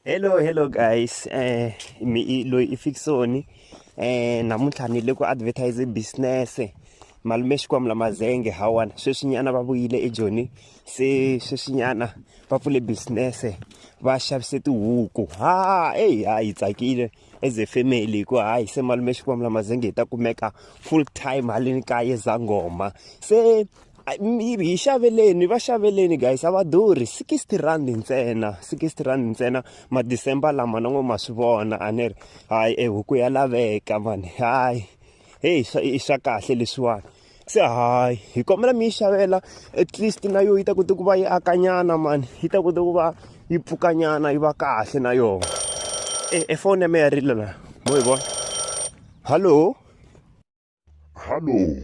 hello hello guys um mi loyi i fiksoni um namuntlha ni le ku advertise business malume xikwambu la mazenge hawana sweswinyana va vuyile ejoni se sweswinyana va pfule business va xavise tihuku ha eyi ha hi tsakile as a family hi ku hayi se malume xikwambu la mazenge hi ta kumeka full time haleni kaye zangoma se hi xaveleni va xaveleni guys a va durhi sixty rand ntsena sixty rand ntsena madecember lama na n'we ma swi vona a ni ri hayi ehuku ya laveka mani hayi heyi i swa kahle leswiwani se hayi hi kombela mi yi xavela at least na yo yi ta kota ku va yi akanyana mani yi ta kota ku va yi pfukanyana yi va kahle na yona e, e foni ya me ya rila la mo yi vona hallo hallo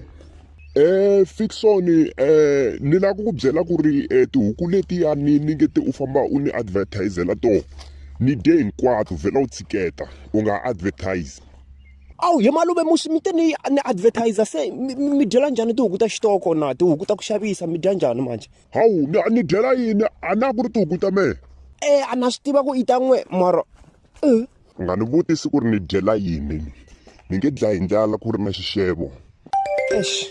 Eh Fixon eh ni lava ku byela ku ri eh, tihuku letiya ni ni nge ti u famba u ni advertisela to ni de hinkwato vhela u tshiketa u nga advertise awu he malume musi mi te ni ni advertiser se mi- mi mi dyela njhani tihuku ta xitoko na tihuku ta ku xavisa mi dya njhani manje hawu ni ni dyela yini a na ku ri tihuku ta mehe e a na swi tiva ku i ta n'we mara u nga ni vutisi ku ri ni dyela yini ni nge dlayi ndlala ku ri na xixevo exi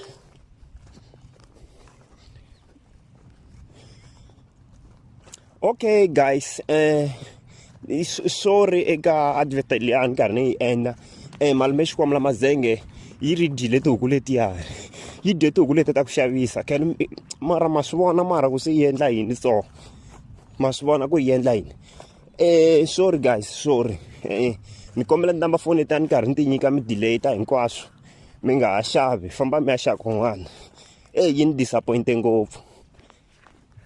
okay guys um sorry eka advert liya ni karhi ni yi endla um malume xikwambu la mazenge yi ri dyile tihuku letiyani yi dye tihuku leti ta ku xavisa khan mara ma swi vona mara ku se yi endla yini so ma swi vona ku yi endla yini Eh sorry guys sorry eh ni kombela ni namba foni ta ni karhi ni ti nyika mi delay ta hinkwaswo mi nga ha xavi famba mi ya xava kun'wana eh yi ni disappointe ngopfu